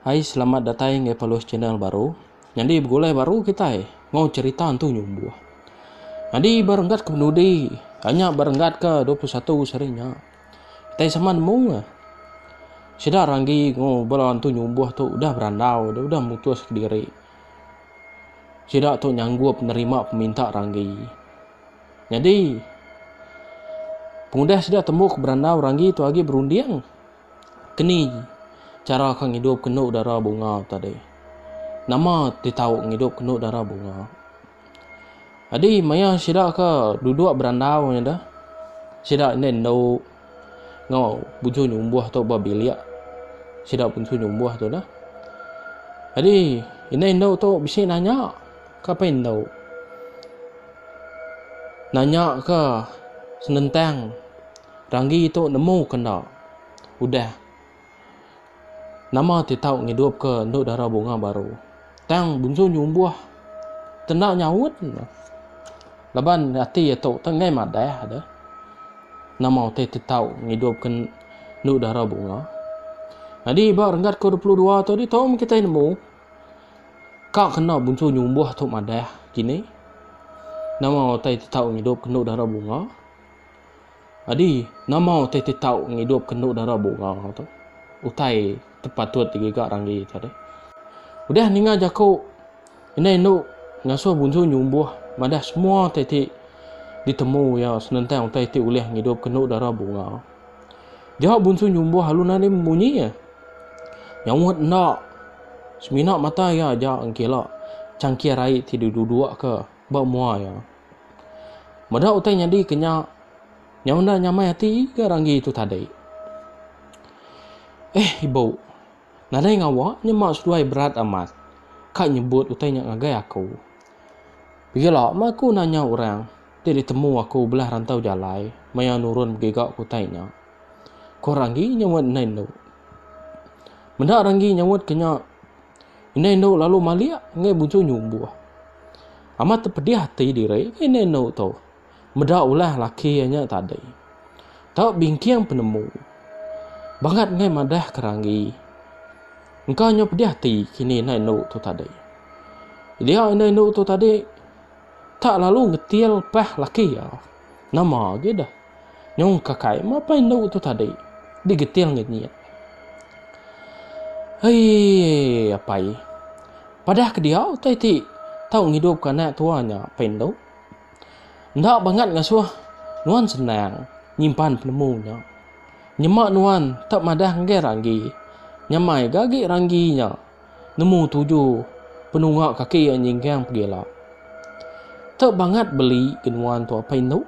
Hai selamat datai enggau Paluh channel baru. Nyadi begulai baru kitai ngau cerita entu nyumbuh. Nyadi berenggat ke penudi, anya berenggat ke 21 seri nya. Utai sama nemu ke. Sida ranggi enggau bala entu nyumbuh tu udah berandau deh, udah mutus kediri. Sida tu nyanggup nerima peminta ranggi. Nyadi, pengudah sida temu ke berandau ranggi tu agi berunding keni chara ke ngidup ke enda dara bunga tadi. Nama ti tau ngidup ke enda dara bunga. Adi maya sida ke duduk berandau nya deh sida enda indu enggau buju nyumbuh tu ba bilik sida puntu nyumbuh tu deh. Adi enda indu tu bisi nanya kapa indu nanya ke senentang ranggi tu nemu ke enda udah. Nama ti tau ngidupka endu dara bunga baru? Tang Bunsu nyumbuh te enda nyaut ne. Laban ati iya tu te enggai madah deh. Nama utai ti tau ngidupka endu dara bunga? Nyadi ba renggat ke-22 tu ditu meh kitai nemu ka kena Bunsu nyumbuh tu madah kini. Nama utai ti tau ngidupka endu dara bunga? Adi, nama utai ti tau ngidupka endu dara bunga tu? Utai ti patut digiga Ranggi tu deh. Udah ninga jaku indai endu ngasuh Bunsu nyumbuh madah semua utai ti ditemu iya senentang utai ti ulih ngidupka endu dara bunga. Dia Bunsu nyumbuh alu nadai munyi iya. Nyaut enda. Semina mata iya aja engkila changkir ai ti didudukka ba mua iya. Meda utai nyadi ke nya, nya enda nyamai ati ga ranggi tu tadi. Eh ibu, nadai ngawa nyema seduai berat amat ka nyebut utai nya ngagai aku. Begila meh aku nanya orang ti ditemu aku belah rantau jalai maya nurun megi ga ke utai nya. Ko ranggi nyaut endai endo. Meda ranggi nyaut ke nya. Indai endo lalu malik enggai bujur nyumbuh. Amat tepedih ati diri ke indai endo tu. Meda ulah laki iya nya tadi. Tau bingking penemu. Bangat enggai madah ke ranggi. Engka nyau pedih ati kini indai endo tu tadi. Dia indai endo tu tadi tak lalu ngetil pah laki iya. Nama agi deh. Nyong kakai, mapa indu tu tadi? Digeting ngenyit. Aii, apai. Padah ke dia utai ti tau ngidupka anak tua nya, Pak Indu. Enda bangat ngasuh nuan senang nyimpan penemu nya. Nyema nuan tak madah ngagai ranggi. Nyamai ga agi ranggi nya. Nemu tuju penunga kaki iya nyinggang pegila. Teu bangat beli ke nuan tu apai endu.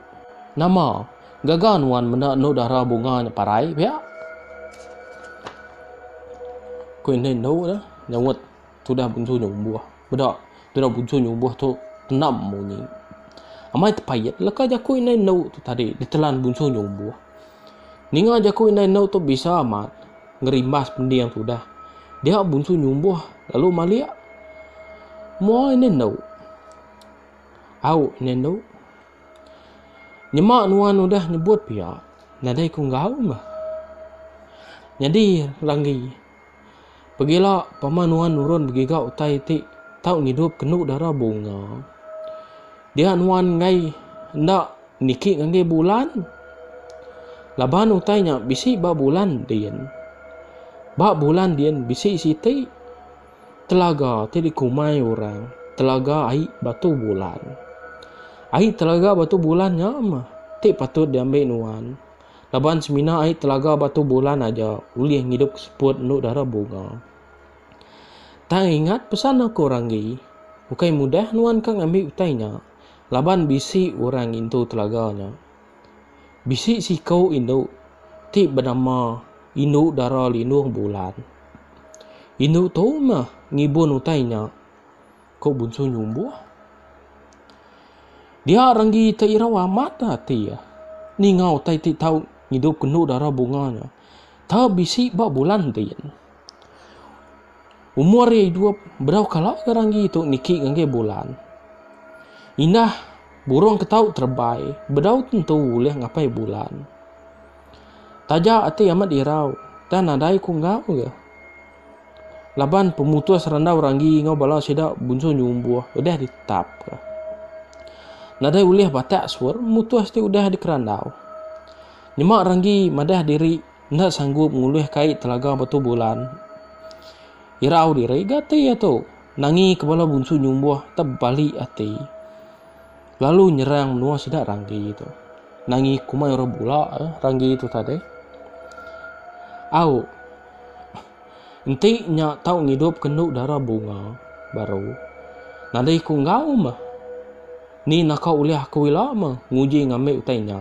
Nama gaga nuan meda endu dara bunga nya parai pia? Ku enda endu dah nyaut tudah bunsu nyumbuh. Meda tudah bunsu nyumbuh tu tenam munyi. Amai tepait leka jaku indai endu tu tadi ditelan bunsu nyumbuh. Ninga jaku indai endu tu bisa amat. Ngerimbas pending tu dah. Dia bunsu nyumbuh lalu malik. Mo ina endu. Au ina endu. Nyema nuan udah nyebut pia, nadai ku enggau meh. Nyadi langgi. Pegila pama nuan nurun begiga utai ti tau ngidup kendu dara bunga. Dia nuan enggai enda niki ngagai bulan? Laban utai nya bisi ba bulan din. Ba bulan din bisi siti telaga ti dikumai orang telaga ai batu bulan. Ai telaga batu bulan nya mah ti patut diambi nuan. Laban semina ai telaga batu bulan aja ulih ngidup seput endu dara bunga. Tang ingat pesan aku Ranggi, ukai mudah nuan ka ngambi utai nya laban bisi orang ngintu telaga nya. Bisi siku indu ti benama Indu Dara Lindung Bulan. Indu tu meh ngibun utai nya, ku Bunsu Nyumbuh. Dia Ranggi te irau amat ati ninga utai ti tau ngidupka Indu Dara Bunga nya. Tau bisi ba bulan tin. Umur iya idup bedau kala ga ranggi tu niki ngagai bulan. Indah burung ke tau terebai bedau tentu ulih ngapai bulan. Taja ati amat irau tang nadai ku enggau ga. Laban pemutus randau ranggi enggau bala sida bunsu nyumbuh udah ditetap ka. Nadai ulih batak sur mutus ti udah dikerandau. Nyema Ranggi madah diri enda sanggup ngulih kai telaga Batu Bulan. Irau diri ga ati iya tu. Nangi ke bala bunsu nyumbuh tebali ati. Lalu nyerang menua sida Ranggi tu. Nangi kumai orang bula eh Ranggi tu tadi. Au. Enti nya tau ngidup ke endu dara bunga baru. Nadai ku enggau meh. Ni naka ulih aku ila meh nguji ngambi utai nya.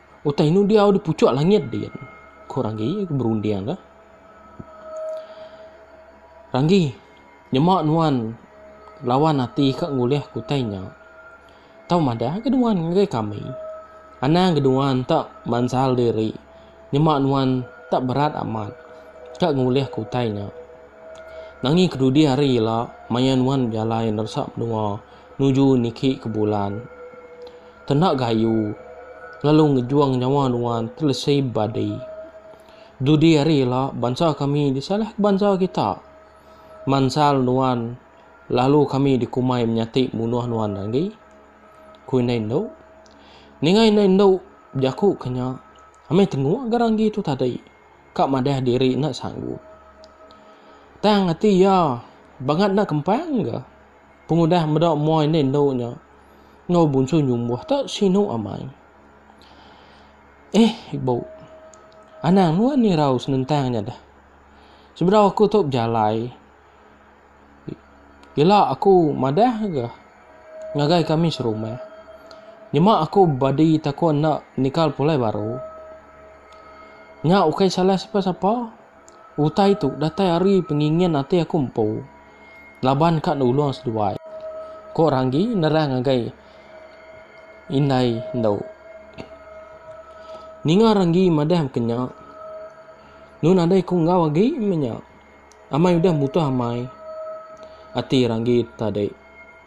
Utai inu diau di puchuk langit din? ku Ranggi berunding ka. Ranggi, nyema nuan lawan ati ka ngulih ku utai nya. Tau madah ga nuan ngagai kami. Anang ga nuan enda mansal diri nyema nuan enda berat amat ka ngulih ku utai nya. Nanging kedudi hari ila maya nuan bejalai neresa menua nuju niki ke bulan. Kena gayu lalu ngejuang nyawa nuan telesi badi. Dudi ari ila bansa kami disalahka bansa kita. Mansal nuan lalu kami dikumai menyati munuh nuan agi, ku indai endu. Ninga indai endu bejaku ke nya, amai tenguk ga ranggi tu tadi ka madah diri enda sanggup. Tang ati iya bangat enda kempang ga. Pengudah meda muai enda indu nya enggau bunsu nyumbuh tu sinu amai. Eh ibu. Anang nuan nirau senentang nya dah. Sebedau aku tu bejalai ila aku madah ga ngagai kami serumah. Nyema aku bebadi takon enda nikal pulai baru. Nya ukai salah sapa-sapa. Utai tu datai ari pengingin ati aku empu laban ka nulung seduai, ku Ranggi nerang ngagai indai endu. Ninga Ranggi madah baka nya, nu nadai ku enggau agi meh nya. Amai udah mutoh amai ati Ranggi tadi.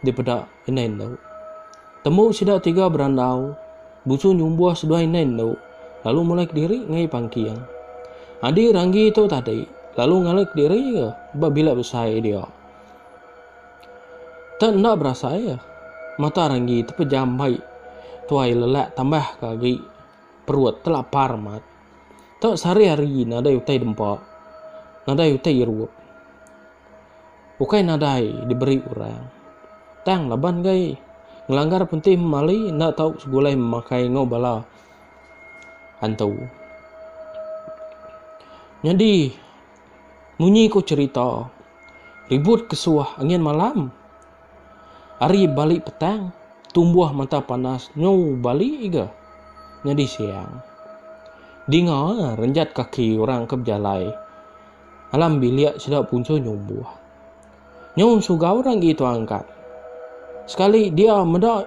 dipeda indai endo. Tembu sida tiga berandau, Busu nyumbuh seduai indai endo lalu mulai kediri ngaii pangking. Adi Ranggi tu tadi lalu ngalai kediri iya ba bilik besai dia. Tak enda berasai iya, mata Ranggi tepejam mai tuai lelak tambah ke agi perut telapar amat. Tak sehari hari nadai utai dempa, nadai utai irup. Ukai nadai diberi orang, tang laban gai ngelanggar pentih memali enda tau segulai memakai enggau bala antu. Nyadi munyi ku cherita, ribut ke suah angin malam, ari bali petang tumbuh mata panas nyu bali iga nyadi siang. Dinga renjat kaki orang ke bejalai. Alam bilik sida punca nyumbuh. Nyu suga orang gi tu angkat. Sekali dia meda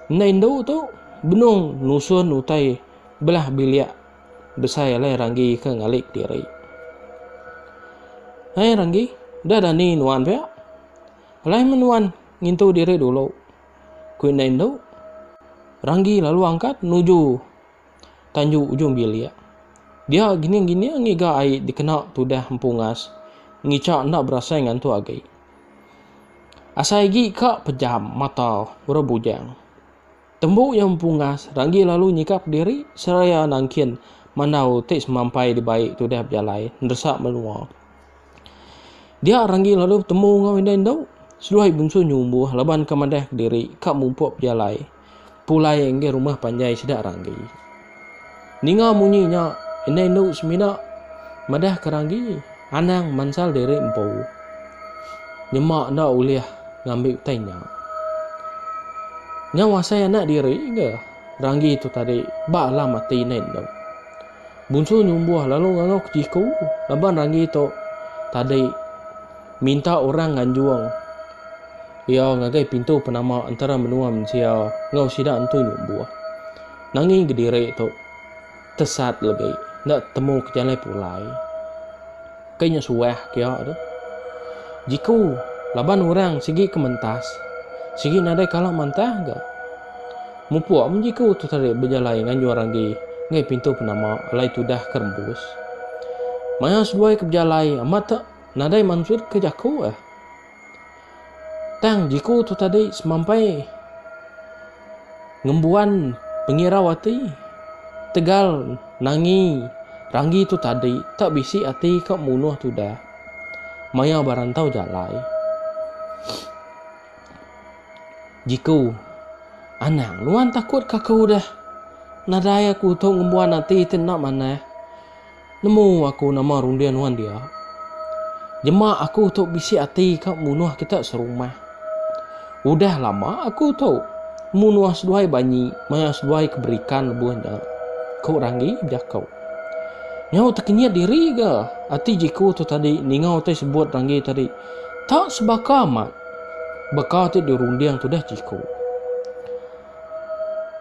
endai endu tu benung nusun utai belah bilik besai alai Ranggi ke ngali kediri. Hai Ranggi, da dani nuan pia. Alai meh nuan ngintu diri dulu, ku endai endu. Ranggi lalu angkat nuju. tanju ujung bilik. Dia gining-gining ngiga ai dikena tudah empu ngas ngicha enda berasai ngantu agi. Asai agi ka pejam mata orang bujang. Tembu iya empu ngas ranggi lalu nyikap diri seraya nangkin mandau ti semampai dibai tudah bejalai neresa menua. Dia ranggi lalu betemu enggau indai endu seduai bungsu nyumbuh laban ka madah diri ka mupuk bejalai. Pulai enggai rumah panjai sida Ranggi. Ninga munyi nya, indai endu semina madahka Ranggi anang mansal diri empu. Nyema enda ulih ngambi utai nya. Nyau asai anak diri ga Ranggi tu tadi ba alam ati indai endu. Bunsu nyumbuh lalu ngangau ke siku laban ranggi tu tadi minta orang nganjung iya ngagai pintu penama entara menua mensia enggau sida entu nyumbuh. Nanging kediri tu tesat legi enda temu ke jalai pulai. Ke nya suah kia tu. Jiku laban urang sigi ke mentas, sigi nadai kala mantah ga. Mupuk mun jiku tu tadi bejalai nganjung ragi enggai pintu penama alai tudah ke rembus. Maya seduai ke bejalai amat te nadai mansut ke jaku eh. Tang jiku tu tadi semampai ngembuan pengirau ati tegal nangi ranggi tu tadi tak bisi ati ka munuh tudah maya berantau jalai. Jiku, anang nuan takut ka aku udah nadai aku tu ngembuan ati ti enda manah. Nemu aku nama runding nuan dia. Jema aku tu bisi ati ka munuh kita serumah. Udah lama aku tu munuh seduai banyi maya seduai ke berikan lebuh nya, ku Ranggi bejako. Nyau tekenyit diri ga ati Jiku tu tadi ninga utai sebut Ranggi tadi. Ta sebaka amat baka ti dirunding tudah Jiku.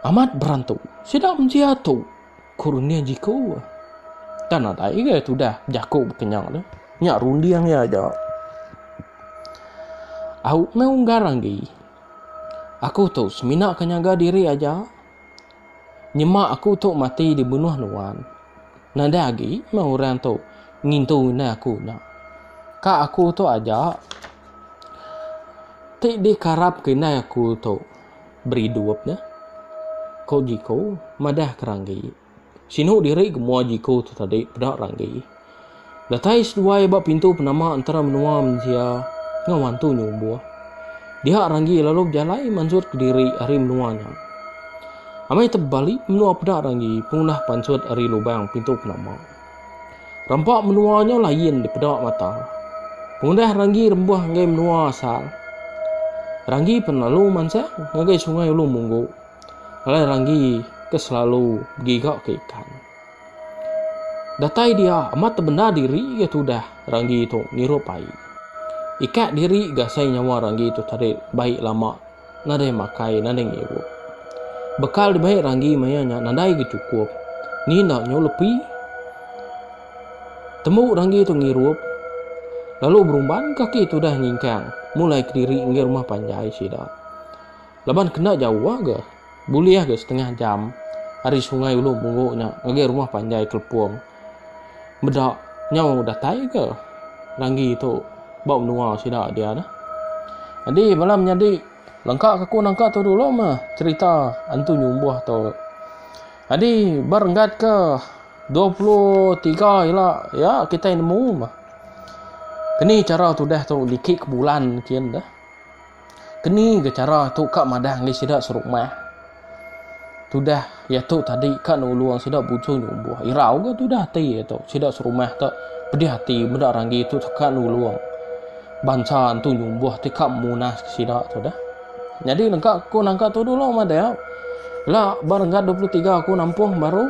Amat berantu. Sida mensia tu. Ku runding jiku. Tan nadai ga tudah bejaku bekenya tu. Nya runding iya aja. Au meh unggar anggi. Aku tu semina ke nyaga diri aja. Nyema aku tu mati dibunuh nuan. Nadai agi meh orang tu ngintu indai aku nya. Ka aku tu aja ti dikarapka indai aku tu. beridup nya, ko Jiko madah ke Ranggi. Sinu diri ke mua Jiko tu tadi peda Ranggi. Datai seduai ba pintu penama entara menua mensia enggau mantu nyumbuh. Dia Ranggi lalu bejalai mansut ke diri ari menua nya. Amai tebali menua peda Ranggi pengudah pansut ari lubang pintu penama. Rampa menua nyau lain dipeda mata. Pengudah Ranggi rembuh enggai menua asal. Ranggi pen lalu mansang ngagai sungai ulu munggu. Alai Ranggi ke selalu begiga ke ikan. Datai dia amat tebendar diri ga tudah Ranggi tu ngirup ai. Ikak diri ga asai nyawa Ranggi tu tadi baik lama. nadai makai, nadai ngirup. Bekal dibai Ranggi maya nya nadai ga chukup. Ni enda nyau lepi. Tembu Ranggi tu ngirup, lalu berumban kaki tudah nyingkang mulai kediri ngagai rumah panjai sida. Laban kena jauh ga. Bulih ga setengah jam ari Sungai Ulu Munggu nya ngagai rumah panjai Kelepong. Meda nyau datai ga Ranggi tu ba menua sida dia dah. Nyadi bala menyadi lengka ke aku nangka tu dulu meh cherita Antu Nyumbuh tu. Nyadi ba renggat ke 23 ila iya kitai nemu meh keni chara tudah tu niki ke bulan kin dah. Keni ga chara tu ka madah enggai sida seru mah. Tudah iya tu tadi ka nulung sida bujung nyumbuh. Irau ga tudah ati iya tu. Sida serumah tu pedih ati meda ranggi tu teka nulung bansa entu nyumbuh ti ka munas ke sida tu dah. Nyadi nengka ku nangka tu dulu madau. Ila ba renggat 23 aku nampung baru.